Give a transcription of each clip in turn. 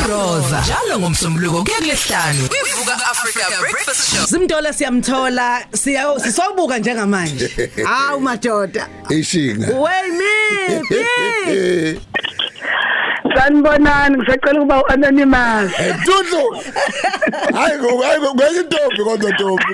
Roza njalo ngomsombuluko kuya kulesihlanu kwivuka Africa Breakfast Show Simthola siyamthola siya sisobuka njengamanje hawu madoda ishinga wey me Sanibonani ngisacela ukuba uanonymous Dudu Hayi ngo hayi ngo ngeke intombi kodwa ntombi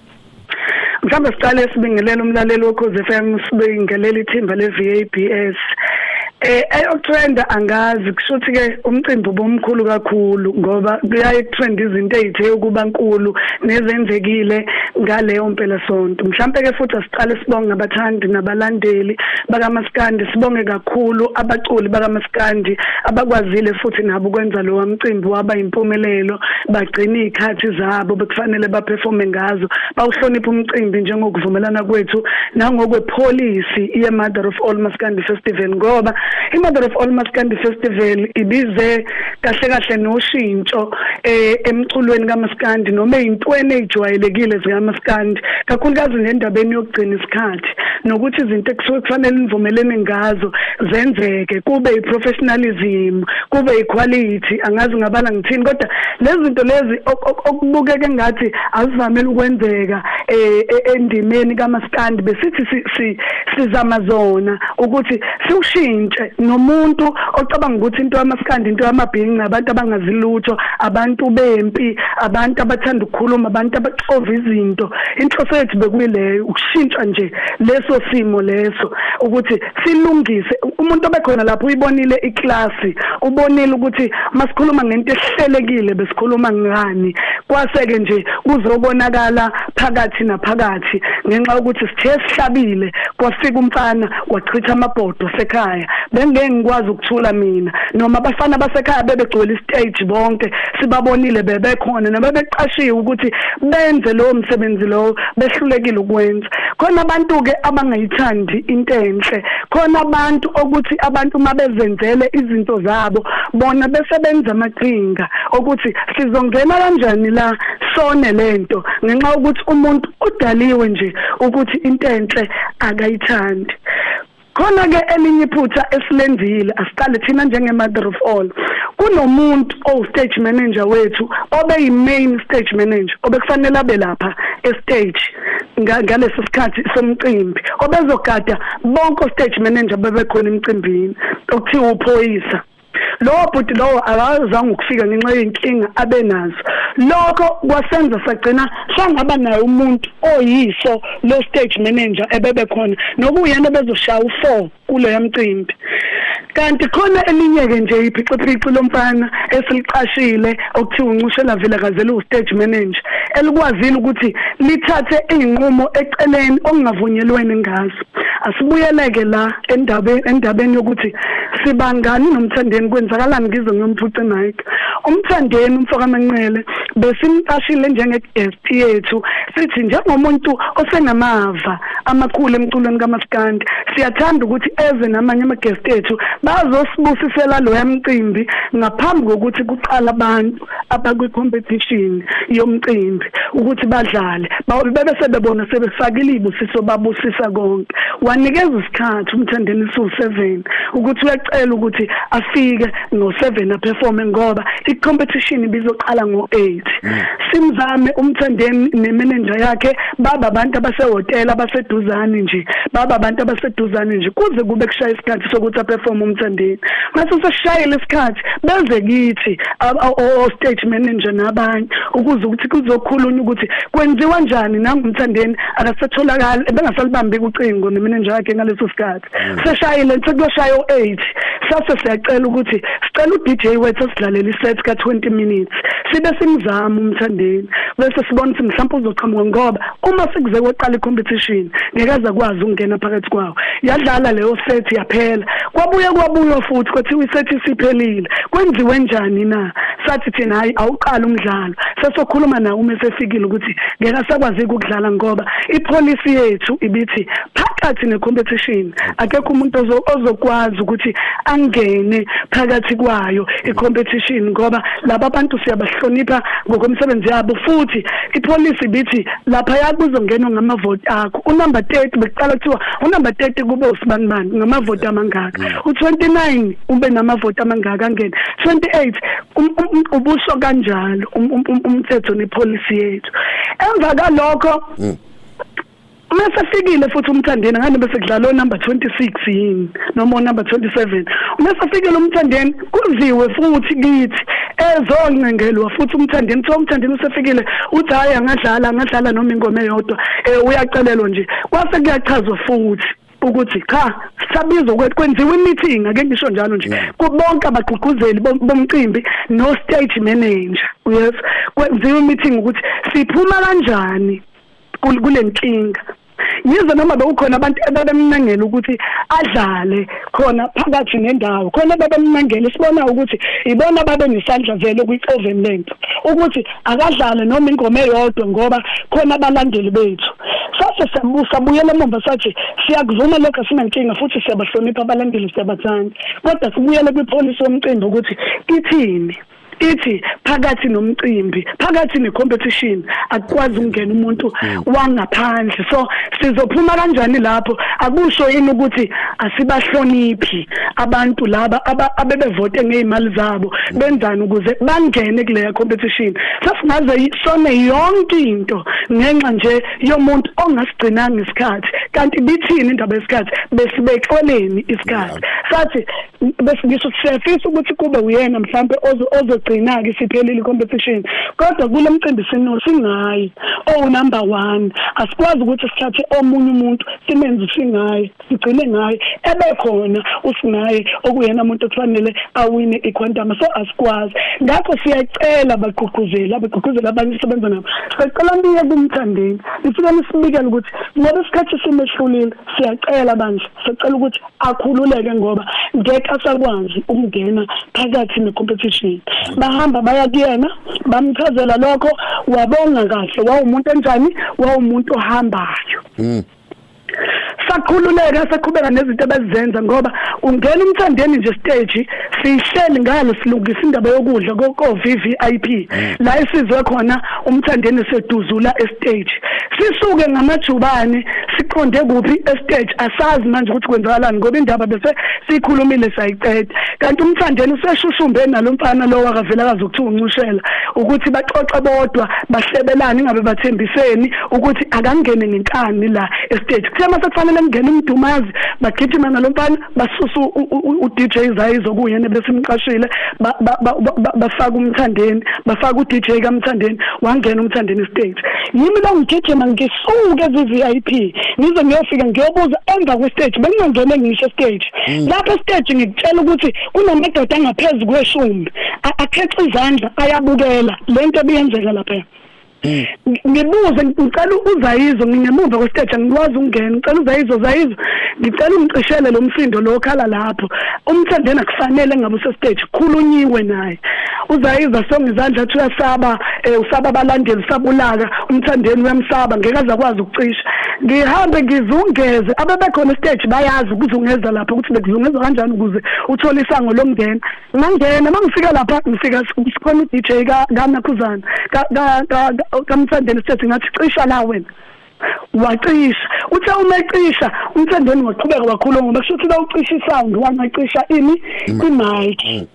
mhlawumbe siqale sibingelela umlaleli wokhozi FM sibingelela ithimba le-VABS Eh eyokutrenda angazi kushuthi ke umcimbi ubomkhulu kakhulu ngoba kuyaye kutrend izinto ezithe ukuba nkulu nezenzekile ngaleyo mpela sonto mhlambe ke futhi asiqale sibonge abathandi nabalandeli bakamaskandi sibonge kakhulu abaculi bakamaskandi abakwazile futhi nabo ukwenza lo mcimbi waba impumelelo bagcina izikhathi zabo bekufanele baperforme ngazo bawuhlonipha umcimbi njengokuvumelana kwethu nangokwe policy ye Mother of All Maskandi Festival ngoba i Mother of All Maskandi Festival ibize kahle kahle noshintsho eh emculweni kaMaskandi noma intweni ejwayelekile zikaMaskandi kakhulukazi ngendabeni yokugcina isikhathi nokuthi izinto ekusuke kufanele nivumelene ngazo zenzeke kube i professionalism kube iquality angazi ngabala ngithini kodwa lezi zinto lezi okubukeke ngathi azivamele ukwenzeka eh, e, endimeni kamaskandi besithi sizama zona ukuthi siwushintshe nomuntu ocabanga ukuthi into yamaskandi into yamabhinqi abantu abangazilutho abantu bempi abantu abathanda ukukhuluma abantu abaxova izinto inhloso yethu bekuyileyo ukushintsha nje leso simo leso ukuthi silungise umuntu obekhona lapho uyibonile iklasi ubonile ukuthi masikhuluma ngento ehlelekile besikhuluma ngani kwaseke nje kuzokonakala phakathi naphakathi ngenxa ukuthi sithe sihlabile kwafika umfana wachitha amabhodo sekhaya bengeke ngikwazi ukuthula mina noma abafana basekhaya bebegcwele istage bonke sibabonile bebekhona nabebeqashiwe ukuthi benze lowo msebenzi lowo behlulekile ukwenza khona abantu ke abangayithandi into enhle khona abantu okuthi abantu mabezenzele izinto zabo bona besebenza amaqhinga okuthi sizongena kanjani la sone lento ngenxa ukuthi umuntu udaliwe nje ukuthi into enhle akayithandi khona ke elinye iphutha esilenzile asiqale thina njenge mother of all kunomuntu owu stage manager wethu obe yi main stage manager obekufanele abe lapha e stage ngalesi sikhathi somcimbi obezogada bonke stage manager bebekhona emcimbini okuthiwa uphoyisa lowo bhuti lowo akazange ukufika ngenxa yenkinga abenazo lokho kwasenza sagcina sangaba naye umuntu oyiso lo stage manager ebebe khona nokuyena bezoshaya u4 kuleya mcimbi kanti khona elinye ke nje iphiciphici lomfana esiliqashile okuthiwa uncushela vele kazela u-stage manager elikwazile ukuthi lithathe izinqumo eceleni okungavunyelwene ngazo asibuyeleke la endabeni endabeni yokuthi sibangani nomthandeni kwenzakalani ngizwe ngiyomphuca Mike umthandeni umfokamanqele besimqashile njenge-guest yethu sithi njengomuntu osenamava amakhulu emculweni kamaskandi siyathanda ukuthi eze namanye ama-guest ethu bazosibusisela loya mcimbi ngaphambi kokuthi kuqala abantu abakwi-competition yomcimbi ukuthi badlale bebe sebebona sebefakile iy'busiso babusisa konke wanikeza isikhathi umthandeni siwu-seven ukuthi uyacela ukuthi afike ngo-seven aperforme ngoba i-competition ibizoqala ngo-eight mm. simzame umthandeni nemenenja yakhe baba abantu abasehhotela abaseduzane nje baba abantu abaseduzane nje kuze kube kushaya isikhathi sokuthi aperforme umthandeni mase sesishayile isikhathi beze kithi o-stage manager nabanye ukuze ukuthi kuzokhulunywa ukuthi kwenziwa njani nangumthandeni akasatholakali ebengasalibambi kucingo nemenenja yakhe ngaleso sikhathi mm. seshayile sekuyoshaya o-eight sase siyacela ukuthi sicela u-d j wethu asidlalele iset ka-twenty minutes sibe simzama umthandeni bese sibona ukuthi mhlawumpe uzoqhamuka ngoba uma sekuze kweqala icompetition ngeke aze kwazi ukungena phakathi kwawo yadlala leyo set yaphela kwabuye kwabuyo futhi kwathi iset isiphelile kwenziwe njani na sathi thina hayi awuqala umdlalo sesokhuluma nawo uma sefikile ukuthi ngeke asakwazi ukudlala ngoba ipolicy yethu ibithi phakathi necompetition akekho umuntu ozokwazi ukuthi angene phakathi kwayo icompetition ngoba laba bantu siyabahlonipha ngokomsebenzi yabo futhi ipolice ibithi laphaya kuzongenwa ngamavoti akho unumber 30 bekuqala kuthiwa unumber 30 kube usibanibani ngamavoti amangaka mm. u29 ube namavoti amangaka angena 28 um, um, um, ubusho kanjalo umthetho nepolicy yethu emva kalokho mm. uma esefikile futhi umthandeni ngani bese kudlala onumber 26 yini noma onumber 27 uma esefikile umthandeni kuziwe futhi kithi ezoncengelwa futhi umthandeni kuthiwa umthandeni usefikile uthi hhayi angadlala angadlala noma ingoma eyodwa um uyacelelwa nje kwase kuyachazwa futhi ukuthi cha sisabizwa ukuthi kwenziwa imeeting ake ngisho njalo nje kubonke abagqugquzeli bomcimbi no stage manager yes kwenziwa imeeting ukuthi siphuma kanjani kulenkinga yize noma bekukhona abantu ababemnangela ukuthi adlale khona phakathi nendawo khona babemnangela sibona ukuthi ibona babe nesandla vele kwi-oven length ukuthi akadlale noma ingoma eyodwa ngoba khona abalandeli bethu sase siyabusa buyela emuva sathi siyakuvuma lokho sinankinga futhi siyabahlonipha abalandeli siyabathanda kodwa sibuyele kwipolisi yomcimbi ukuthi ithini ithi phakathi nomcimbi phakathi necompetition akukwazi ukungena umuntu mm. wangaphandle so sizophuma kanjani lapho akusho yini ukuthi asibahloniphi abantu laba abebevote ngezimali zabo mm. benzani ukuze bangene kule competition sasingaze sone yonke into ngenxa nje yomuntu ongasigcinanga isikhathi kanti bithini indaba yesikhathi besibexoleni isikhathi sathi bese ngisho ukuthi siyafisa ukuthi kube uyena mhlampe ozogcina-ke isiphelile i-competition kodwa kulo mcimbi sino singayi owunumber oh, one asikwazi ukuthi sithathe omunye umuntu simenze usingaye sigcine ngaye ebekhona usingaye okuyena muntu okufanele awine iquantama so asikwazi ngakho siyacela bagqugquzeli abagqugquzeli abanye sisebenza nabo sicela niye kumthandeni nifike nisibikele ukuthi ngoba isikhathi simehlulile siyacela bandla sicela ukuthi akhululeke ngoba ngeke asakwazi ukungena phakathi necompetition bahamba baya kuyena bamchazela lokho wabonga kahle wawumuntu enjani wawumuntu ohambayo mm. sakhululeka saqhubeka nezinto abazenza ngoba ungena umthandeni nje stage sihleli ngalo silungisa indaba yokudla ko VVIP mm. la isizwe khona umthandeni seduzula estage sisuke ngamajubane siqonde kuphi estage asazi manje ukuthi kwenzakalani ngoba indaba bese sikhulumile sayiqeda kanti umthandeni useshushumbe nalomfana lo wakavela kazi ukuthiwa uncushela ukuthi baxoxe bodwa bahlebelane ingabe bathembiseni ukuthi akangene ngenkani la estage kuthe mase kufanele kungena umdumazi bagijima nalomfana basusa uDJ Zayizo kuyena besimqashile bafaka umthandeni bafaka uDJ kaMthandeni wangena umthandeni stage yimi la ngigijima ngisuke eVVIP ngize ngiyofika ngiyobuza emva kwestage bengingangene ngisho stage mm. lapha stage ngikutshela ukuthi kunamadoda angaphezulu kweshumi akhexa izandla ayabukela lento ebiyenzeka lapha Mm. ngibuze ngicela uzayizo ngingemuva kwesiteja ngikwazi ukungena ngicela uzayizo zayizo ngicela ungicishele lo msindo lo okhala lapho umthandeni akufanele ngabe usesiteji khulunyiwe naye uzayizo asonge izandla athi uyasaba um usaba abalandeli usaba ulaka umthandeni uyamsaba ngeke aze akwazi ukucisha ngihambe ngizungeze abebekhona esiteji bayazi ukuzungeza lapho ukuthi bekuzungeza kanjani ukuze uthole isango lomngena ngangena mangifika lapha ngifika sikhona uDJ ka kanakhuzana ka ka kamthandeni sithi ngathi cisha la wena wacisha uthe uma ecisha umthandeni waqhubeka wakhuluma ngoba kusho ukuthi lawucisha isound wangacisha ini imic mm.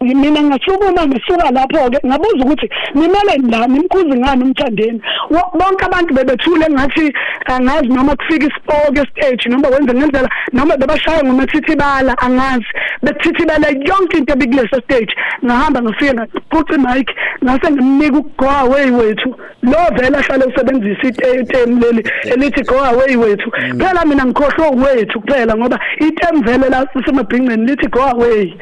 mina ngasukuma ngisuka lapho ke ngabuza ukuthi nimele la nimkhuzi ngani umthandeni bonke abantu bebethule ngathi angazi noma kufika isipoke stage noma wenze ngendlela noma bebashaya ngomathithibala angazi bethithibala yonke into ebikuleso stage ngahamba ngifike ngaqoqa imic ngase ngimnika go away wethu lo vele ahlale usebenzisa item leli elithi go away wethu mm. phela mina ngikhohlwe wethu kuphela ngoba item vele la semabhingceni lithi go away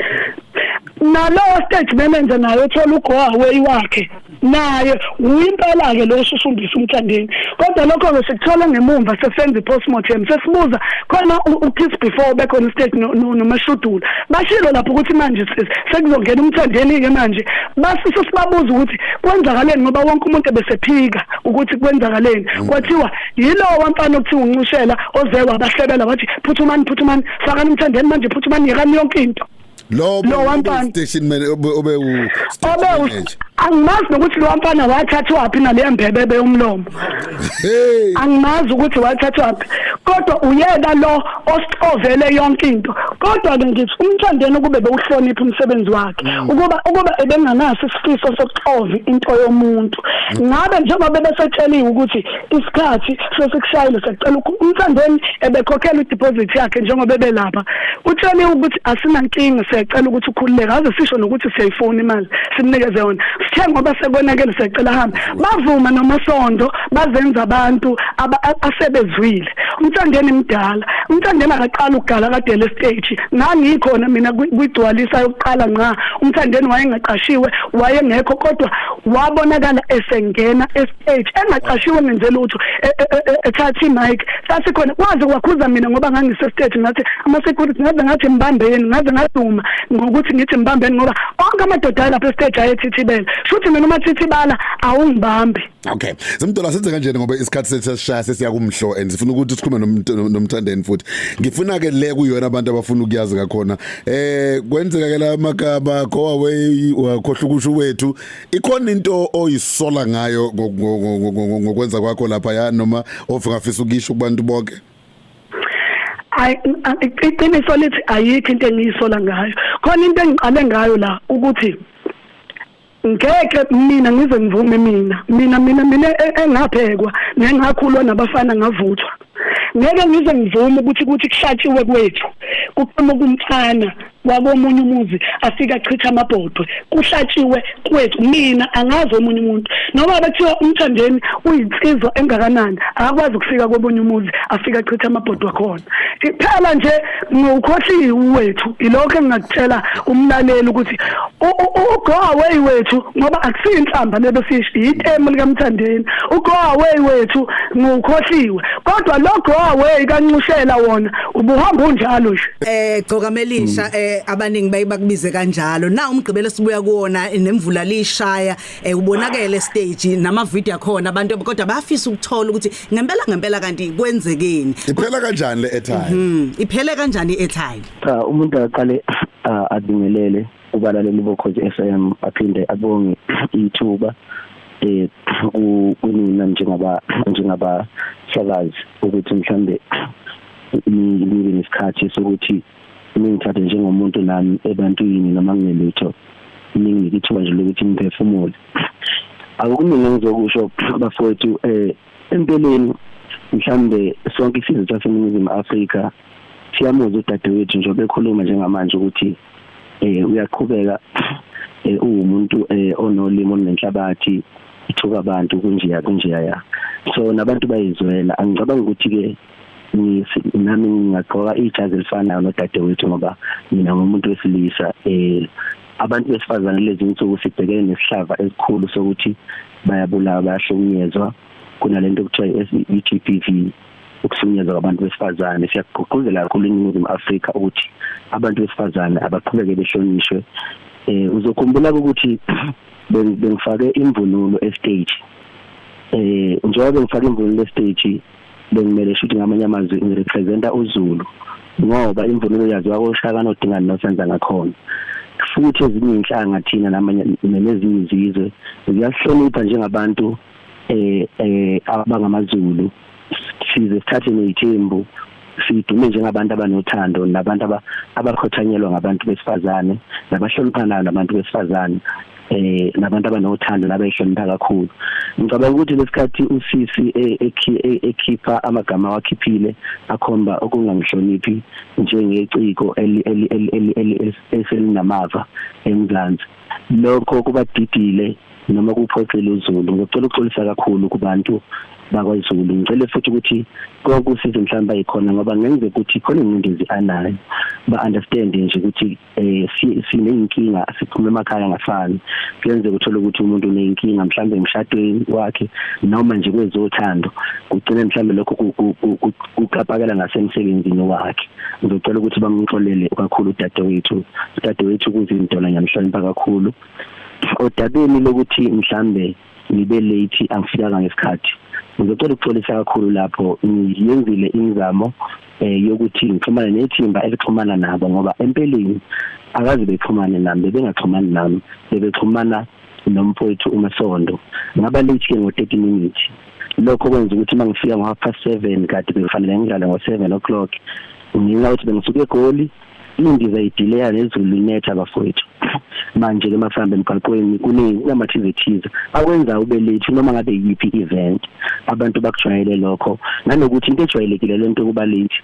nalowo stage manager naye uthola ugo away wakhe naye uyimpela-ke lo osusundisa umthandeni kodwa lokho-ke sikuthola ngemumva sesenza i-postmortem sesibuza khona u-kiss before ubekhona ustate nomashudula bashilo lapho ukuthi manje sekuzongena umthandeni-ke manje basise sibabuza ukuthi kwenzakaleni ngoba wonke umuntu ebesephika ukuthi kwenzakaleni mm. kwathiwa yilowo wamfana okuthiwa uncushela oze wabahlebela wathi phuthumani phuthumani fakani umthandeni manje phuthumani yekani yonke into Lo Lo wamfana- station man obe obe u obe station u- manager. angimazi nokuthi lo wamfana wathathwaphi naleya mbhebebe yomlomo Hey. angimazi ukuthi wathathwaphi kodwa uyena lo osixovele yonke into kodwa-ke ngithi umthandeni ukube bewuhlonipha umsebenzi wakhe Mm. ukuba ukuba ebenganaso isifiso sokuxova into yomuntu ngabe njengoba bebesetsheliwe ukuthi isikhathi sesikushayile sekucela umthandeni ebekhokhela ideposit yakhe njengoba ebelapha utshele ukuthi asinankinga siyacela ukuthi ukhululeke aze sisho nokuthi siyayifuna imali simnikeze yona sithe ngoba sekonakele siyacela hambe bavuma nomasondo bazenza abantu asebezwile umthandeni mdala umthandeni akaqala ukugala kade le stage ngangikhona mina kwigcwalisa yokuqala nqa umthandeni wayengaqashiwe wayengekho kodwa wabonakala esengena eight engaqashiwe ngenze lutho e, e, e, ethatha imic sasikhona kwaze kwakhuza mina ngoba ngangisestage ngathi ama security ngaze ngathi mbambeni ngaze ngaduma ngokuthi ngithi mbambeni ngoba onke amadoda lapha estage ayethithibela futhi mina uma thithibala awungibambi okay zimdola senze kanje ngoba isikhathi sethu sesishaya sesiya kumhlo and sifuna ukuthi sikhulume nomthandeni futhi ngifuna ke le kuyona abantu abafuna ukuyazi ngakhona eh kwenzeka ke la magaba go away wakhohla ukusho wethu ikhona into oyisola ngayo ngokwenza kwakho lapha ya noma ofungafisa ukisho kubantu bonke iqiniso lithi ayikho into engiyisola ngayo khona into engiqale ngayo la ukuthi ngeke mina ngize ngivume mina mina mina mina e, engaphekwa nengakhulwa nabafana ngavuthwa ngeke ngize ngivume ukuthi kuthi kuhlatshiwe kwethu kuqhamuka umfana wakomunye umuzi afika achitha amabhodwe kuhlatshiwe kwethu mina angazi omunye umuntu noma bethiwa umthandeni uyinsizwa engakanani akakwazi ukufika komunye umuzi afika achitha amabhodwe akhona kuphela nje ngukhohliwe uwethu ilokho engingakutshela umlaleli ukuthi ugo away wethu ngoba akusiyo inhlamba lebe sisho yitemu likamthandeni ugo away wethu ngukhohliwe kodwa lo go away kancushela wona ubuhamba unjalo nje eh gcoka melisha eh abaningi bayibakubize kanjalo na umgqibelo sibuya kuona nemvula lishaya eh ubonakele stage nama video akhona abantu kodwa bayafisa ukuthola ukuthi ngempela ngempela kanti kwenzekeni iphela kanjani le airtime mhm iphele kanjani i airtime cha umuntu aqale abingelele ubalaleli bokhozi FM aphinde abonge ithuba eh kunina njengaba njengaba sakazi ukuthi mhlambe nibe nesikhathi sokuthi ningithathe njengomuntu nami ebantwini noma ngingelutho ninginike ithuba nje lokuthi ngiphefumule akukuningi engizokusho bafowethu um empeleni mhlawumbe sonke isizwe saseningizimu afrika siyamuzwa udadewethu njengoba ekhuluma njengamanje ukuthi um uyaqhubeka um uwumuntu um onolimi olunenhlabathi ithuka abantu kunjeya kunjeya so nabantu bayizwela angicabanga ukuthi-ke nami ngingagqoka ijazi elifanayo nodadewethu ngoba mina ngumuntu wesilisa um abantu besifazane lezi nsuku sibhekene nesihlava esikhulu sokuthi bayabulawa bayahlukunyezwa kunale nto kuthiwa i-G P V ukuhlukunyezwa kwabantu besifazane siyagqugquzela kakhulu iningizimu afrika ukuthi abantu besifazane abaqhubeke behlonishwe um uzokhumbula ukuthi bengifake imvunulo estage um njengoba bengifake imvunulo estage bengimele shuthi ngamanye amazwi ngirepresenta uZulu ngoba imvunulo yaziwa koshaka nodingani nosenza ngakhona futhi ezinye inhlanga thina namanye nezinye izizwe ziyasihlonipha njengabantu eh eh abangamaZulu size sithathe nezithembu sidume njengabantu abanothando nabantu abakhothanyelwa ngabantu besifazane nabahloniphanayo nabantu besifazane eh nabantu abanothando nabayihlonipha kakhulu ngicabanga ukuthi lesikhathi usisi e, e, e, ekhipha amagama wakhiphile akhomba ukungangihloniphi njengeciko eselinamava eMzansi lokho kubadidile noma kuphoxile uZulu ngicela ukuxolisa kakhulu kubantu bakwaZulu ngicele futhi ukuthi konke usizo mhlawumbe ayikhona ngoba ngenzeka ukuthi khona ingcindezi anayo ba understand nje ukuthi eh sineyinkinga siphuma emakhaya ngafani kuyenzeka uthole ukuthi umuntu uneyinkinga mhlawumbe emshadweni wakhe noma nje kwezothando kugcine mhlawumbe lokho kuqapakela ngasemsebenzini wakhe ngizocela ukuthi bamxolele kakhulu udadewethu udadewethu kuzinto la nyamhlonipha kakhulu odabeni lokuthi mhlambe ngibe late angifikanga ngesikhathi ngizocela ukuxolisa kakhulu lapho ngiyenzile imizamo eh yokuthi ngixhumane nethimba elixhumana nabo ngoba empeleni akazi bexhumane nami bebengaxhumani nami bebexhumana nomfowethu uMasondo ngaba late ke ngo 30 minutes lokho kwenza ukuthi uma ngifika ngo half past 7 kade bekufanele ngidlale ngo 7 o'clock nginga ukuthi bengisuke egoli Imbiza idileya nezulu linetha bafowethu. Manje ke masihamba emgaqweni kunezinamathizwe ethize akwenza ube late noma ngabe yiphi event. Abantu bakujwayele lokho nanokuthi into ejwayelekile lento kuba late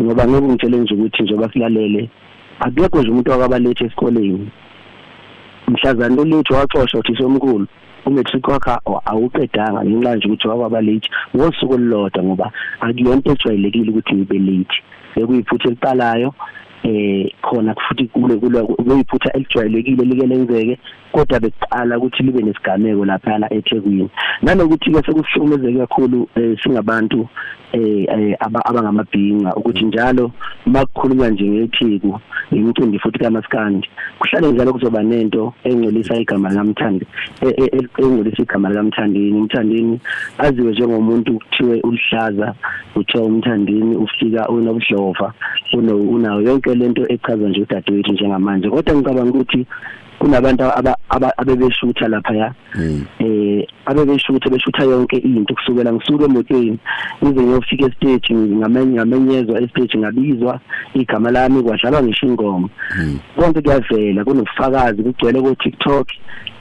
ngoba ngeke ngitshele nje ukuthi njengoba silalele akekho nje umuntu wakaba late esikoleni. Mhlazana lo late waxoshwa uthisomkhulu. umatric wakhe awuqedanga ngenxa nje ukuthi wababa late ngosuku olulodwa ngoba akuyonto ejwayelekile ukuthi ngibe late bekuyiphutha eliqalayo eh khona futhi kule kule kuyiphutha elijwayelekile like lenzeke kodwa bekuqala ukuthi libe nesigameko lapha eThekwini nanokuthi ke sekuhlukumezeke kakhulu eh, singabantu eh, eh abangamabhinca ukuthi njalo makukhulunywa nje ngethiku imicimbi futhi kamaskandi kuhlale njalo kuzoba nento engcolisa igama likamthandi e, e, e, engcolisa igama likamthandini umthandini aziwe njengomuntu kuthiwe ulihlaza kuthiwa umthandini ufika unobudlova unawo yonke lento echazwa nje udadewethu njengamanje kodwa ngicabanga ukuthi kunabantu abebeshutha lapha ya hmm. eh abebeshutha beshutha yonke into kusukela ngisuke emotweni ngize ngiyofika estage ngamenye ngamenyezwa estage ngabizwa igama lami kwadlalwa ngisho ingoma hmm. konke kuyavela kunofakazi kugcwele ko TikTok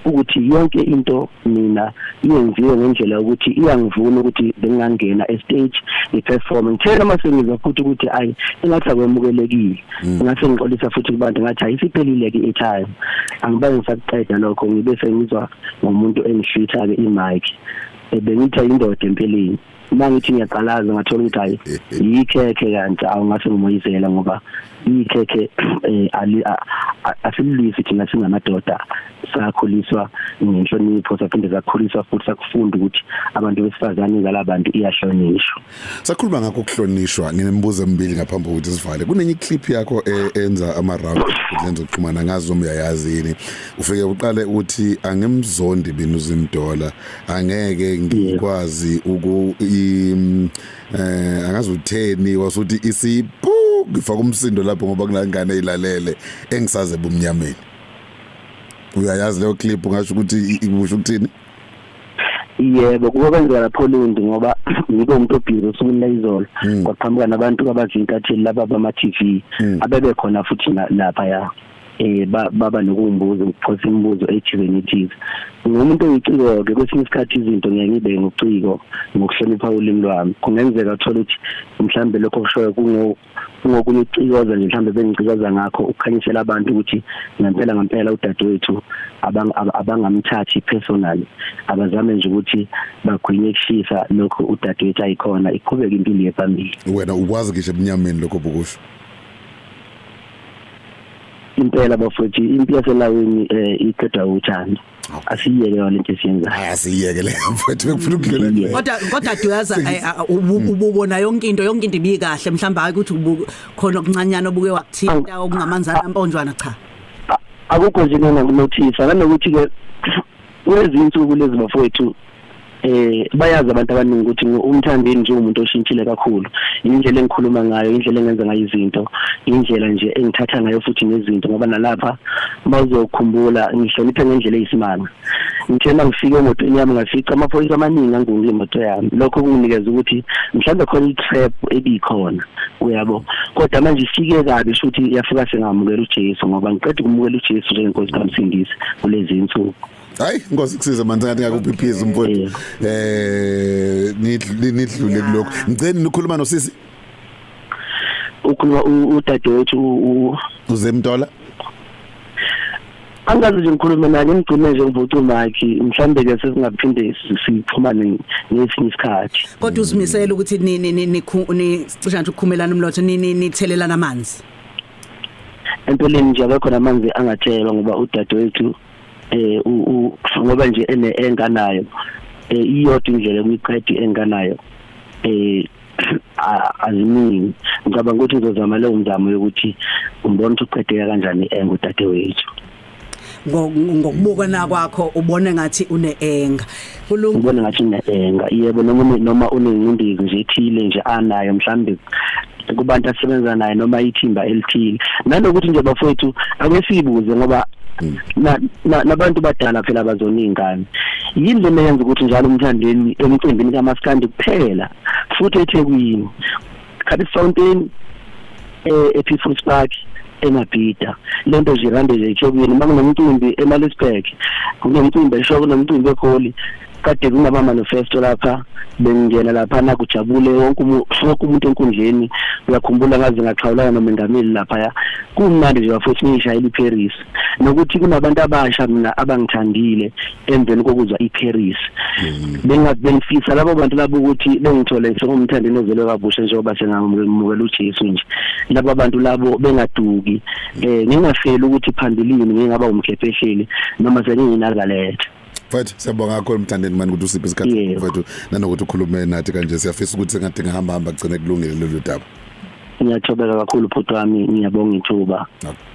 ukuthi yonke into mina yenziwe ngendlela ukuthi iyangivuna ukuthi bengingangena estage ngiperform ngithena uma sengizwa futhi ukuthi ayi engathi akwemukelekile mm. ngase ngixolisa futhi kubantu ngathi ayisiphelile ke itime angibe ngisakuqeda lokho ngibe sengizwa ngomuntu engihlitha ke imic ebengithi ayindoda empeleni uma ngithi ngiyaqalaza ngathola ukuthi hayi yikhekhe kanti awungase ngimoyizela ngoba ikhekhe eh, ali asilisi thina singamadoda sakhuliswa ngenhlonipho saphinde sakhuliswa futhi sakufunda ukuthi abantu besifazane ngalabantu iyahlonishwa sakhuluma ngakho ukuhlonishwa nginemibuzo emibili ngaphambi kokuthi sivale kunenye clip yakho e, enza ama round lenzo kuxhumana ngazi noma uyayazi yini ufike uqale ukuthi angimzondi binuzimdola angeke ngikwazi uku um eh angazi utheni wasuthi isipu ngifaka umsindo lapho ngoba kunangane ilalele engisaze bumnyameni uyayazi leyo clip ngasho ukuthi ikusho ukuthini yebo kuba kwenzeka lapho lindi ngoba ngike umuntu obhizi usuku lezolo hmm. kwaqhamuka nabantu abazintatheli laba bama TV hmm. abebe khona futhi lapha ya eh baba nokumbuza ukuphosa imibuzo ejibeni ethize ngumuntu oyiciko ke kwesinye isikhathi izinto ngeke ngibe ngociko ngokuhlonipha ulimi lwami kungenzeka uthola ukuthi mhlambe lokho kushoyo kungo kungokunye ucikoza nje mhlambe bengicikoza ngakho ukukhanyisela abantu ukuthi ngempela ngempela udadewethu abangamthathi personal abazame nje ukuthi bagwinye kushisa lokho udadewethu ayikhona iqhubeke impilo yephambili wena ukwazi ngisho ebunyameni lokho bokusho impela bafowethu impi yaselawini eh iqeda uthando asiyeke yona into esiyenzayo hayi asiyeke le mfowethu bekufuna ukudlula nje kodwa kodwa duyaza eh, ah, mm. ububona yonke into yonke into ibikahle mhlawumbe hayi ukuthi khona okuncanyana obuke wakuthinta okungamanzana amponjwana cha akukho nje nanokunothisa nanokuthi ke kulezi nsuku lezi bafowethu eh bayazi abantu abaningi ukuthi umthandeni nje umuntu oshintshile kakhulu indlela engikhuluma ngayo indlela engenza ngayo izinto indlela nje engithatha ngayo futhi nezinto ngoba nalapha bazokhumbula ngihloniphe ngendlela eyisimanga ngithena ngifike emotweni yami ngafica amaphoyisa amaningi angunge imoto yami lokho kunginikeza ukuthi mhlawumbe khona i-trap ebikhona uyabo kodwa manje ifike kabi futhi yafika sengamukela uJesu ngoba ngiqeda ukumukela uJesu njengenkosi kamsindisi kulezi insuku hayi inkosi kusize manje ngathi ngakuphiphiza umfowethu eh nidlule kuloko ngicela nikhuluma nosisi ukhuluma udadewethu uzemntola angazi nje ngikhulume naye ngimgcine nje ngivuca umakhi mhlambe ke sesingaphinde sixhumane ngesinye isikhathi kodwa uzimisela ukuthi ni ni ni ni cisha nje ukukhumelana umlotho ni ni nithelelana amanzi empeleni nje akekho namanzi angathelwa ngoba udadewethu eh ngoba nje ene enganayo eh iyodwa indlela kuyiqedi enganayo eh aziningi ngicabanga ukuthi ngizozama leyo mzamo yokuthi umbona ukuthi uqedeka kanjani engu dadewethu ngokubuka na kwakho ubone ngathi uneenga kulunga ubone ngathi uneenga yebo noma noma unengcindezi nje ethile nje anayo mhlambe kubantu asebenza naye noma ithimba elithile nanokuthi nje bafowethu akesibuze ngoba mm. nabantu badala phela bazona ingane yini lena yenza ukuthi njalo umthandeni emcimbini kamaskandi kuphela futhi ethekwini khathi fountain eh, epeoples park emabhida le nto zirande nje ethokweni uma kunomcimbi emalisburg kunomcimbi esho kunomcimbi egoli kade kungaba manifesto lapha bengingena lapha nakujabule wonke wonke umuntu enkundleni uyakhumbula ngaze ngaxhawulana nomengameli lapha ya kumnandi nje bafowethu ngishayela iParis nokuthi kunabantu abasha mina abangithandile emveni kokuzwa iParis mm. benga bengifisa labo bantu labo ukuthi bengithole sengumthandi nozelwe kabusha njengoba sengamukela uJesu nje laba bantu labo bengaduki eh ngingafeli ukuthi phambilini ngingaba umkhephehleli noma senginginakalethe mfethu siyabonga kakhulu mthandeni mani ukuthi usiphe isikhathi mfethu nanokuthi ukhulume nathi kanje siyafisa ukuthi sengathi ngihamba hamba gcine kulungile lolu daba ngiyathobeka kakhulu bhuti wami ngiyabonga ithuba